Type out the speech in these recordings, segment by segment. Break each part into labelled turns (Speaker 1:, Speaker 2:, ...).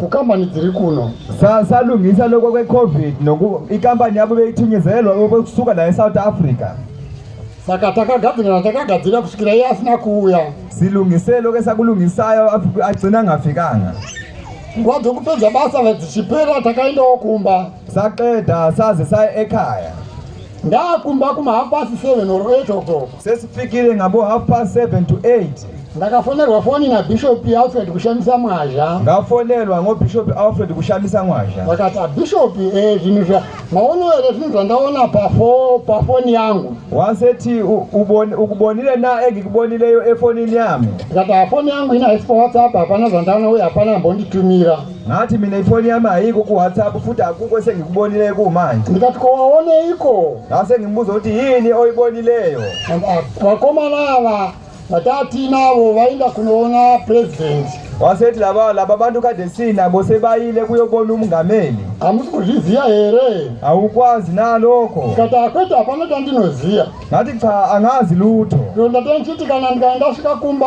Speaker 1: kukambani dziri kuno salungisa
Speaker 2: loko kwecovid noku ikambani yavo veitinyezelwa vokusuka naye south africa saka
Speaker 1: takagadzirira takagadzirira kusvikira iye asina kuuya silungise loke
Speaker 2: sakulungisayo agcina angafikanga nguva
Speaker 1: dzokupedza basa dzichipera takaendawo kumba saqeda
Speaker 2: saze saye ekhaya Ndakumba
Speaker 1: kuma half past 7 or 8 o'clock. Sesifikire ngabo
Speaker 2: half past 7 to 8. Ndakafonerwa foni
Speaker 1: na Bishop Alfred kushamisa mwazha. Ndafonerwa ngo
Speaker 2: Bishop Alfred kushamisa mwazha. Vakati ah, Bishop
Speaker 1: eh zvinhu zva maono ere zvinhu zvandaona pa fo pa foni yangu. Waseti
Speaker 2: uboni ukubonile na ege kubonileyo efonini yami. Vakati ah, foni yangu
Speaker 1: ina hesi pa WhatsApp hapana zvandaona uye hapana mbonditumira. Nhati mine ifoni
Speaker 2: yamai iko kuwhatsapp futi hakungo sengikubonile kumai. Ndikati ko waoneiko?
Speaker 1: Ngase ngimbuzo kuti
Speaker 2: yini oyibonileyo. Vakomana
Speaker 1: ava vatatinavo vainda kunoona president. Waseti lava
Speaker 2: laba bantu kade sina bose bayile kuyobona umungameli. Hamusi kuzviziya
Speaker 1: here? Haukwazi
Speaker 2: naloko. Ndikati akwete hapana
Speaker 1: tandinoziya. Ngati cha
Speaker 2: angazi lutho. Ndondatani chiti kana
Speaker 1: ndikaenda svika kumba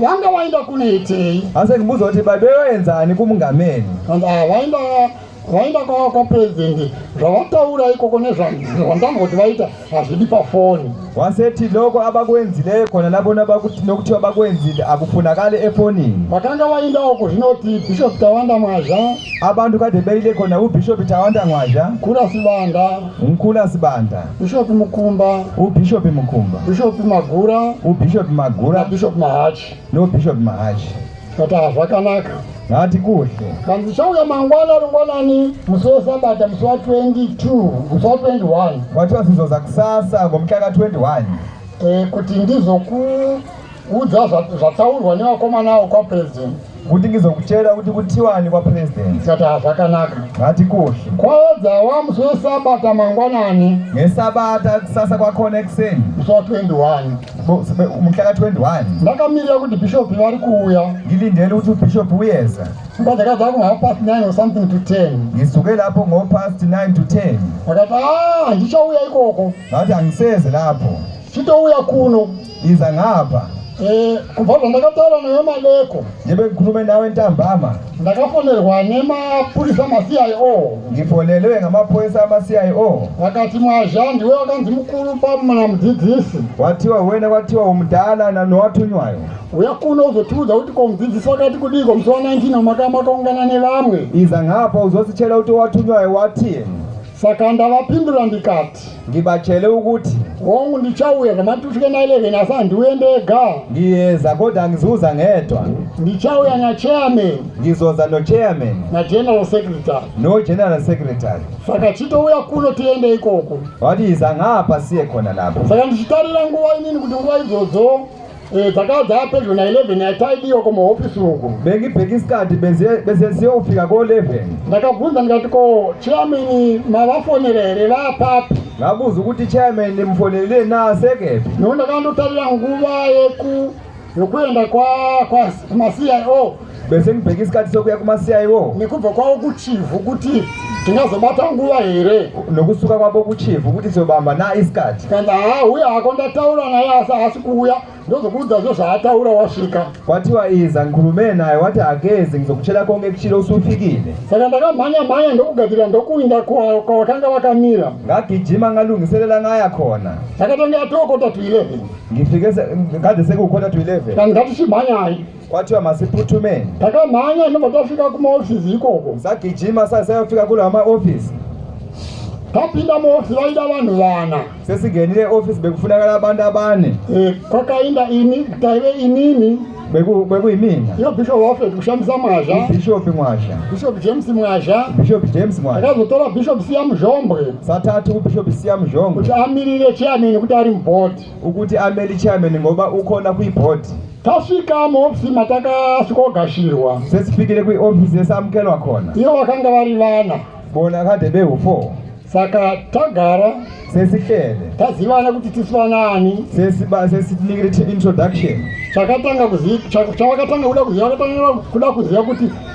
Speaker 1: vanga waenda kunoitei asi ndimbuza kuti
Speaker 2: baba vaenzani kumungameni and ah, vaenda
Speaker 1: vaenda kwava kwapurezidendi zvavataura ikoko nezvandanga kuti vaita hazvidi pafoni waseti loko
Speaker 2: abakuenzile khona lapho nokuthiwa abakuenzile akufunakali efonini vakanga vaendawo
Speaker 1: kuzvinoti bishop tawanda mwazha abantu kade beyile
Speaker 2: khona ubishop tawanda mwazha khula sibanda mkhula sibanda Bishop Mukumba.
Speaker 1: UBishop Mukumba.
Speaker 2: Bishop Magura.
Speaker 1: UBishop Magura.
Speaker 2: Bishop Mahachi.
Speaker 1: No Bishop Mahachi.
Speaker 2: Kata hazvakanaka.
Speaker 1: Ngati kuhle.
Speaker 2: Kanzi ndichauya
Speaker 1: mangwana rungwanani musi wesabata musi wa 22 musi wa 21. Wati wasizoza
Speaker 2: kusasa ngomutaka 21. Eh, kuti
Speaker 1: ndizoku Udza zvataurwa nevakomana avo kwaPresident. Kutingiza kuchera
Speaker 2: kuti kutiwani kwaPresident. Tikati hazvakanaka.
Speaker 1: Hatikoshe.
Speaker 2: Kwaedza wamusi
Speaker 1: wesabata mangwanani. Ngesabata
Speaker 2: kusasa kwakhona ekuseni. Musi wa
Speaker 1: 21. Muhlaka
Speaker 2: 21. Ndakamirira kuti
Speaker 1: bishop vari kuuya. Ngilindele ukuthi ubishop
Speaker 2: uyeza. Mba ndakadza ku half
Speaker 1: past 9 or something to 10. Ngisuke lapho ngo
Speaker 2: past 9 to 10. Ndakati ah
Speaker 1: ndichauya ikoko. Ngathi angiseze
Speaker 2: lapho. Chitouya
Speaker 1: kuno. Inza ngapa.
Speaker 2: Eh, kubva
Speaker 1: zvandakataura naye maleko ndibekurume nawe
Speaker 2: ntambama ndakafonerwa
Speaker 1: nemapurisa maCIO ndifonelwe
Speaker 2: ngamapurisa amaCIO vakati mwazha
Speaker 1: ndiwe wakanzi mukuru pamana mudzidzisi watiwa wena
Speaker 2: watiwa umudala nanowatunywayo uya kuno
Speaker 1: uzotiudza kuti ko mudzidzisi wakati kudii ko musi wa 19 omakama wakaungana nevamwe iza ngapa
Speaker 2: uzosichela kuti watunywayo watie saka
Speaker 1: ndavapindura ndikati Ngibatshele ukuthi
Speaker 2: hongu ndichauya
Speaker 1: ngamati ufike na 11 asi handiuye ndega. Ngiyeza kodwa
Speaker 2: angizuza ngedwa. Ndichauya na
Speaker 1: chairman. Ngizoza no
Speaker 2: chairman. Na general secretary.
Speaker 1: No general
Speaker 2: secretary. Saka chitouya
Speaker 1: kuno tiende ikoko. Wati iza ngapha
Speaker 2: siye khona lapho. Saka ndichitarira nguva
Speaker 1: inini kuti nguva idzodzo Eh, dzakava dzava pedyo na 11 yataidiwa kumahofisi uku bengibheki isikati
Speaker 2: besesiyo kufika ko 11 ndakabvunza ndikati
Speaker 1: ko chiameni mavafonera here vapapi ngabuzi ukuthi
Speaker 2: chairman nimfonelile na sekepi nona kandotarira
Speaker 1: nguva yeku yokuenda kwa kwa ma CIO bese mubheki
Speaker 2: isikati sokuya kumasiya iwo nekubva kwavo kuchivhu
Speaker 1: kuti tingazobata nguva here nokusuka kwavo
Speaker 2: kuchivhu kuti sobamba na isikati kana haa uye hako
Speaker 1: ndataura naye asi haasi kuuya ndozokuudza zvo zvaataura wasvika wati waiza
Speaker 2: ngurume naye wati hageze ngizokuchera konge kuchire usufikile saka ndakamhanya
Speaker 1: mhanya ndokugadzirira ndokuinda kwawakanga wakamira ngagijima
Speaker 2: ngalungiselela ngaya khona ndakatanga atokota
Speaker 1: to 11 ngifike
Speaker 2: ngade sekukota to 11 kana ngatichimhanyayi
Speaker 1: Kwathiwa masiphuthume.
Speaker 2: Takamhanya ndobva
Speaker 1: tafika kumaofisi ikoko. Sagijima sasayofika
Speaker 2: kula maofisi.
Speaker 1: Tapinda muofisi vaida vanhu vana. Sesingenile ofisi
Speaker 2: bekufunakala
Speaker 1: abantu
Speaker 2: abane.
Speaker 1: Eh,
Speaker 2: kwakainda
Speaker 1: ini
Speaker 2: taive
Speaker 1: inini.
Speaker 2: Beku beku imini. Iyo bishop
Speaker 1: wafe kushamisa mwazha. Bishop mwazha.
Speaker 2: Bishop James mwazha.
Speaker 1: Bishop James mwazha.
Speaker 2: Akazotora bishop siya
Speaker 1: muzhombwe. Satatu bishop
Speaker 2: siya muzhombwe. Kuti amirire chairman
Speaker 1: kuti ari mubhoti. Ukuti ameli
Speaker 2: chairman ngoba ukona kui board. Tasvika
Speaker 1: muhofisi matakasvikogashirwa. Sesifikire kui office
Speaker 2: yesamukelwa khona. Ivo vakanga vari
Speaker 1: vana. Bona kade behu
Speaker 2: 4. Saka
Speaker 1: tagara sesihlele
Speaker 2: tazivana kuti
Speaker 1: tisi vanani sesiba sesinikire
Speaker 2: introduction chakatanga
Speaker 1: kuziva chakatanga kuda kuziva chakatanga kuda kuziva kuti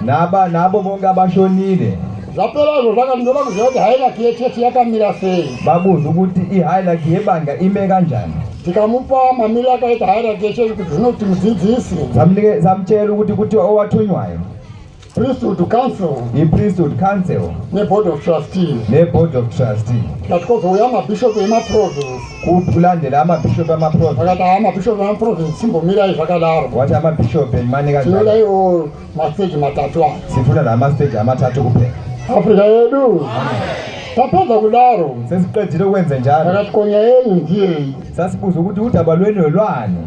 Speaker 1: Naba nabo
Speaker 2: bonga bashonile. Zvapera izvo
Speaker 1: zvakati ndoda kuziva kuti highlight yechechi yakamira sei. Babuza kuti
Speaker 2: ihighlight yebanga ime kanjani. Tikamupa
Speaker 1: mamiro akaita highlight yechechi kuti zvinoti mudzidzisi. Zamuchero
Speaker 2: kuti kuti owatunywayo. Priesthood
Speaker 1: Council iPriesthood Council
Speaker 2: neBoard of
Speaker 1: Trustees neBoard of
Speaker 2: Trustees. Ngatikuzouya mabishop
Speaker 1: emaprovince kupulande
Speaker 2: ramabhishopi amaprovince vakati haa mabhishopi
Speaker 1: amaprovince simbomirai zvakadaro wati amabhishopi
Speaker 2: manika tinoda iwo masteji
Speaker 1: matatu aya sifuna namasteji
Speaker 2: amatatu kupera afrika yedu
Speaker 1: tapedza kudaro sesiqedile ukwenze
Speaker 2: njalo vakati konya yenyu
Speaker 1: ndiyeyi sasibuza ukuthi
Speaker 2: udaba lweni lwelwani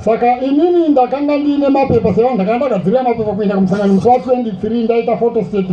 Speaker 2: saka
Speaker 1: inini ndakanga ndiine mapepa sevanhu ndakanga ndagadzirira mapepa kuenda kumusangano musi wa 23 ndaita photostate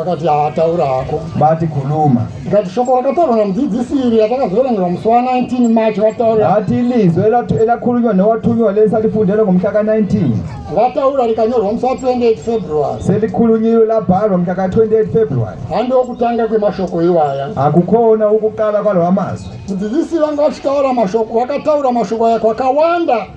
Speaker 2: akati ataura
Speaker 1: hako bati khuluma
Speaker 2: ngati shoko rakataurwa
Speaker 1: namudzidzisi iri yatakazoerengerwa musi wa 19 march vataura ati lizwi
Speaker 2: elakhulunywa newathunywa lesa lifundela ngomhla ka-19 lataura
Speaker 1: likanyorwa musi wa-28 february selikhulunyiwe
Speaker 2: labhalwa mhla ka-28 february handi okutanga
Speaker 1: kwemashoko iwaya akukhona ukuqala
Speaker 2: kwalawa mazwi mudzidzisi vanga
Speaker 1: vachitaura mashoko vakataura mashoko aya kwakawanda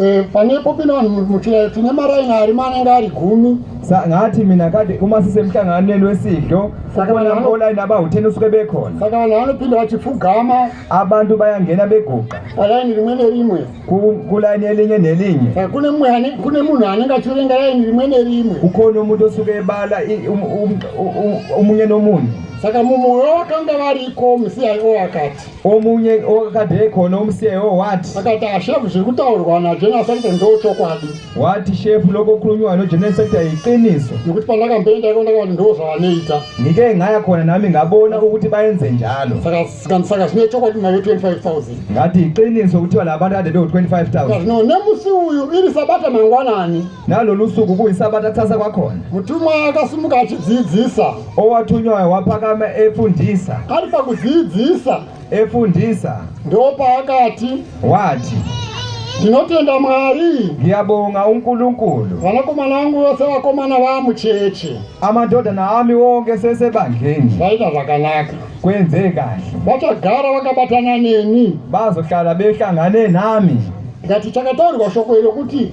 Speaker 1: Eh, panepo pino vanhu muchira tine maraini ari manenge ari gumi ngaati mina
Speaker 2: kade uma sisemhlanganweni wesidlo ukona online abahuteni usuke bekhona saka vanhu vanopinda
Speaker 1: vachipfugama abantu bayangena
Speaker 2: beguqa palaini rimwe nerimwe
Speaker 1: kulayini
Speaker 2: elinye nelinye eh,
Speaker 1: kune munhu anenge achiverenga layini rimwe nerimwe ukhona umuntu osuke
Speaker 2: ebala um, um, um, omunye nomunye saka mumwoyo
Speaker 1: wakanga variko musi yaivo wakati omunye
Speaker 2: okadeko nomuseo wati akati ashefu zviri
Speaker 1: kutaurwa najenera sekta ndo chokwadi wati shefu
Speaker 2: lokokhulunywa nojenera sekta yiqiniso nokuti pandakamboenda
Speaker 1: iko ndakavati ndo zvavanoita ngike ngaya khona
Speaker 2: nami ngabona ukuthi bayenze njalo saka saka saka zvine
Speaker 1: chokwadi mari 25000 ngati yiqiniso
Speaker 2: kuthiwa laba bantu kade bewu 25000 zvino nemusi
Speaker 1: uyu iri sabata mangwanani nalolu suku
Speaker 2: kuyisabatha thatha kwakhona mutumwa akasimuka
Speaker 1: achidzidzisa owathunywayo
Speaker 2: waphakama efundisa ari
Speaker 1: pakudzidzisa efundisa
Speaker 2: ndopaakati
Speaker 1: wathi
Speaker 2: ndinotenda
Speaker 1: mwari ngiyabonga
Speaker 2: unkulunkulu vanakomana vangu
Speaker 1: vose vakomana vamucheche amadodana
Speaker 2: ami wonke sesebandleni zvaita zvakanaka
Speaker 1: kwenze kahle
Speaker 2: vachagara
Speaker 1: vakabatana neni
Speaker 2: bazohlala
Speaker 1: behlangane
Speaker 2: nami
Speaker 1: ngati chakataurwa shoko
Speaker 2: iro
Speaker 1: kuti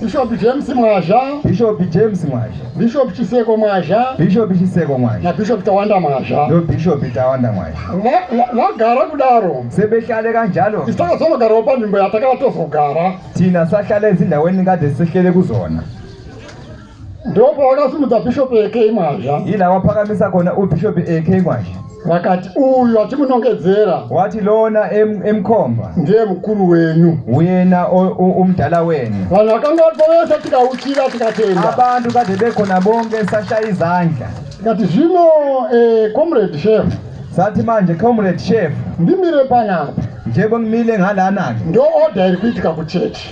Speaker 2: Bishop James
Speaker 1: Mwazha, Bishop James
Speaker 2: Mwazha, Bishop Chiseko
Speaker 1: Mwazha, Bishop Chiseko Mwazha,
Speaker 2: na Bishop Tawanda Mwazha,
Speaker 1: no Bishop Tawanda
Speaker 2: Mwazha. Vagara
Speaker 1: kudaro. Sebehlale kanjalo.
Speaker 2: Isakazonogarawo panzvimbo
Speaker 1: yatakala tozogara. Tina sahlale
Speaker 2: ezindaweni ngade sehlele kuzona.
Speaker 1: Ndipo pawakasimudza Bishop AK Mwazha. Ila wapakamisa
Speaker 2: kona u Bishop AK Mwazha. vakati uyu
Speaker 1: atimunongedzera wati lona
Speaker 2: emkomba ndiye mukuru
Speaker 1: wenyu uyena
Speaker 2: umdala wenu vanhu vakanga vatovesa
Speaker 1: tikauchira tikatenda abantu kade bekhona
Speaker 2: bonke sashaya izandla tikati zvino
Speaker 1: eh, comrade chef sathi manje
Speaker 2: comrade chef ndimire panapa
Speaker 1: njebo ngimile
Speaker 2: ngalana-ke ndo-oda iri
Speaker 1: kuitika kuchechi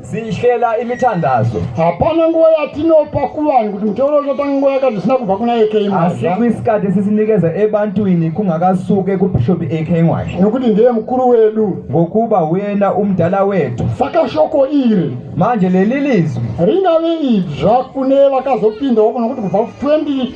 Speaker 1: Zihlela
Speaker 2: imithandazo. Hapana nguva
Speaker 1: yatinopa kuvanhu kuti mutauro uchatanga nguva yakati zvisina kubva kuna AK Mwazha. Asi kwisikati esisinikeza
Speaker 2: ebantwini kungakasuke kuBishop AK Mwazha. Nokuti ndiye mukuru
Speaker 1: wedu. Ngokuba huyena
Speaker 2: umdala wethu. Saka shoko iri.
Speaker 1: Manje leli
Speaker 2: lizwi. Ringave idzva
Speaker 1: kune vakazopindawo kunokuti kubva 20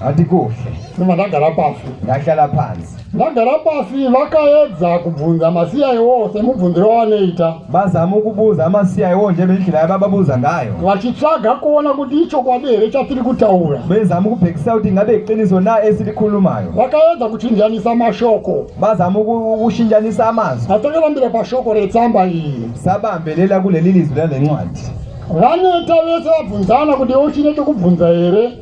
Speaker 1: hati kuhle
Speaker 2: sema ndagara
Speaker 1: pasi ndahlala phansi
Speaker 2: ndagara pasi
Speaker 1: vakaedza kubvunza masiya iwo semubvunziro wavanoita vazama ukubuza
Speaker 2: amasiya iwo nje nendlela yabababuza ngayo vachitsvaga kuona
Speaker 1: kuti ichokwadi here chatiri kutaura bezama ukubhekisa
Speaker 2: kuti ingabe iqiniso na esilikhulumayo vakaedza kuchinjanisa
Speaker 1: mashoko vazama
Speaker 2: ukushinjanisa amazwi atekelambira pashoko
Speaker 1: retsamba iyi sabambelela kuleli
Speaker 2: lizwi lale ncwadi vaneta
Speaker 1: vese vabvunzana kuti uchine chokubvunza here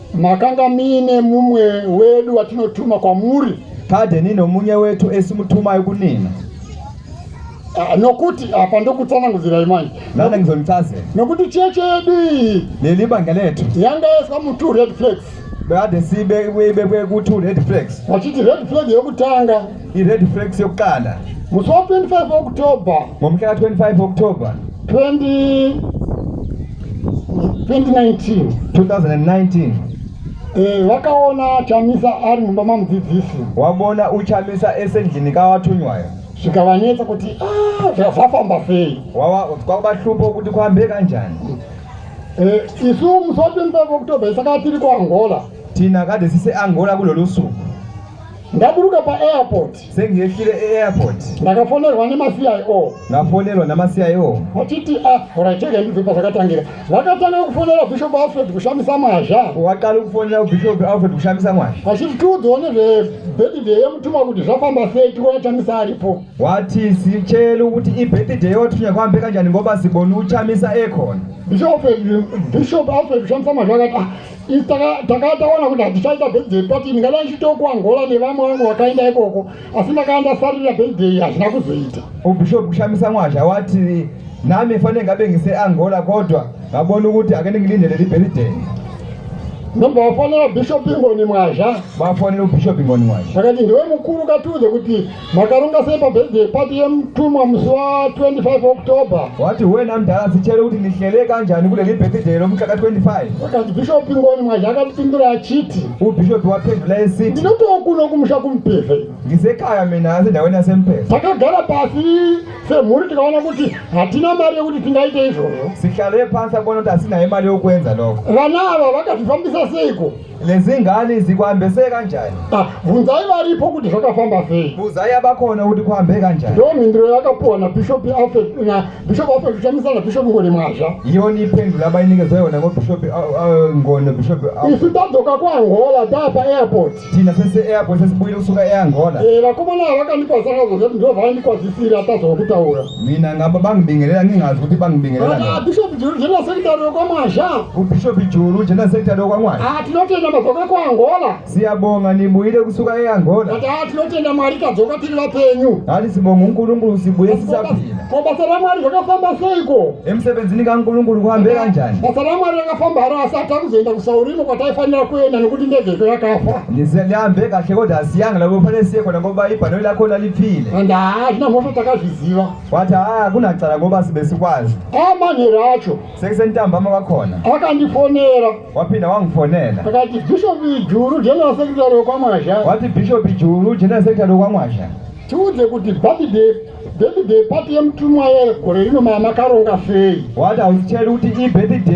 Speaker 2: Makanga
Speaker 1: muine mumwe wedu watinotuma kwamuri. Kade nino munye
Speaker 2: wetu esimutumayo kunina. Ah, nokuti
Speaker 1: apa ndokutsanangudzirai manje nana ngizonitsaze
Speaker 2: nokuti chechi yedu
Speaker 1: iyi leli banga lethu
Speaker 2: yanga yaiswa mu-two
Speaker 1: red flags kade sibe
Speaker 2: ibekwe ku-two red flags vachiti red flag
Speaker 1: yokutanga ired flags yokukanda musi wa 25
Speaker 2: october
Speaker 1: ngomuhla ka 25 october 20 2019 2019 Eh, vakaona chamisa ari mumba mamudzidzisi wabona uchamisa
Speaker 2: esendlini kawathunywayo zvikavanetsa
Speaker 1: kuti "Ah, zva- zvafamba sei wawa kwakubahlupha
Speaker 2: ukuthi kuhambe kanjani Eh,
Speaker 1: isu musi wa 25 october isaka tiri kuangola thina kade
Speaker 2: siseangola kulolu suku ndaburuka
Speaker 1: paairport sengiyehlile
Speaker 2: eairport ndakafonerwa
Speaker 1: nemacio ndafonerwa
Speaker 2: namacio vachiti a ah,
Speaker 1: oraitega ndibve pazvakatangira vakatanga kufonera bishop alfred kushamisa mwazha wakali kufonera
Speaker 2: bishop alfred kushamisa mwazha vachiti tiudzewo
Speaker 1: nezvebirthday yemutumwa kuti zvafamba sei tikuona chamisa aripo wati sichelu
Speaker 2: kuti ibirthday yotunya kwambe kanjani ngoba siboni uchamisa ekona
Speaker 1: bishop alfred kushamisa mwazha akati ah, If takanga taona kuti handichaita birthday party ndingadai ndichitokuangola nevamwe vangu vakaenda ikoko asi ndakanga ndafarira birthday hazvina kuzoita. Ubishop kushamisa
Speaker 2: mwazha wati nami fanenge ngabe ngiseangola kodwa ngabona ukuthi ake ningilindele libirthday.
Speaker 1: Nomba wafonera Bishop Ingoni Mwazha. Vafonera Bishop
Speaker 2: Ingoni Mwazha. Vakati ndiwe mukuru
Speaker 1: katuze kuti makaronga sei pabirthday party yemutumwa musi wa 25 october wati huwe namdhara
Speaker 2: sichere kuti ndihlele kanjani kuleli birthday romuxaka 25 akati bhishopi
Speaker 1: ngoni mwaje akatipindura achiti ubhishopi waphendula
Speaker 2: esi ndinotokuno kumusha
Speaker 1: kumupevha ndisekaya mina
Speaker 2: asi ndaweni asempesa takagara pasi
Speaker 1: semhuri tikaona kuti hatina mari yekuti tingaite izvozvo sihlale pasi akuona
Speaker 2: kuti asinaye mari yokuenza loko vana ava vakazvifambisa
Speaker 1: seiko Lezingane
Speaker 2: zikwambese kanjani? Ah, vunzai
Speaker 1: varipo kuti zvakafamba sei. Vunzai abakhona kuti
Speaker 2: kuhambe kanjani? Ndo mhinduro yakapuwa
Speaker 1: na Bishop Alfred na Bishop Alfred kuchamisa na Bishop Ngone Mwazha. Yona iphendula
Speaker 2: abayinikezwe yona ngo Bishop uh, uh, Ngone Bishop. Uh, Isu tadzoka ku
Speaker 1: Angola tapa airport. Thina sese airport
Speaker 2: sesibuyile kusuka eAngola. Eh vakomana
Speaker 1: vakanikwazana zvokuti ndovanikwazisira tazokutaura. Mina ngaba
Speaker 2: bangibingelela ngingazi ukuthi bangibingelela ngani. Bishop Juru jena
Speaker 1: secretary yokwamwazha. UBishop Juru
Speaker 2: jena secretary yokwamwazha. Ah tinotenda madzoka ku
Speaker 1: Angola. Siyabonga nibuyile
Speaker 2: kusuka eAngola. Kati ah tinotenda Mwari
Speaker 1: kadzoka tiri vapenyu. Hali sibonga uNkulunkulu
Speaker 2: sibuye sisaphila. Ko basa ra Mwari
Speaker 1: rakafamba seiko? Emsebenzini kaNkulunkulu
Speaker 2: kuhambe kanjani? Basa ra Mwari rakafamba
Speaker 1: haro asi atakuzoenda kusaurimo kwataifanira kuenda nekuti ndege yakafa. Ndizelihambe kahle
Speaker 2: kodwa asiyanga labo fanele siye kona ngoba ibhanoyi lakho File. And haa zvina mhosva
Speaker 1: takazviziva. Wati haa kuna
Speaker 2: tsara ngoba sibesikwazi. Haa manhero acho.
Speaker 1: Sekusentambama kwakhona.
Speaker 2: Akandifonera.
Speaker 1: Wapinda
Speaker 2: wangifonela. Akati Bishop
Speaker 1: Juru General Secretary wekwamwazha. Wati Bishop Juru
Speaker 2: General Secretary wekwamwazha. Tiudze kuti
Speaker 1: birthday birthday
Speaker 2: party
Speaker 1: yemutumwa yegore
Speaker 2: rino mama
Speaker 1: karonga
Speaker 2: sei.
Speaker 1: Wati hauzicheri
Speaker 2: kuti
Speaker 1: ibirthday.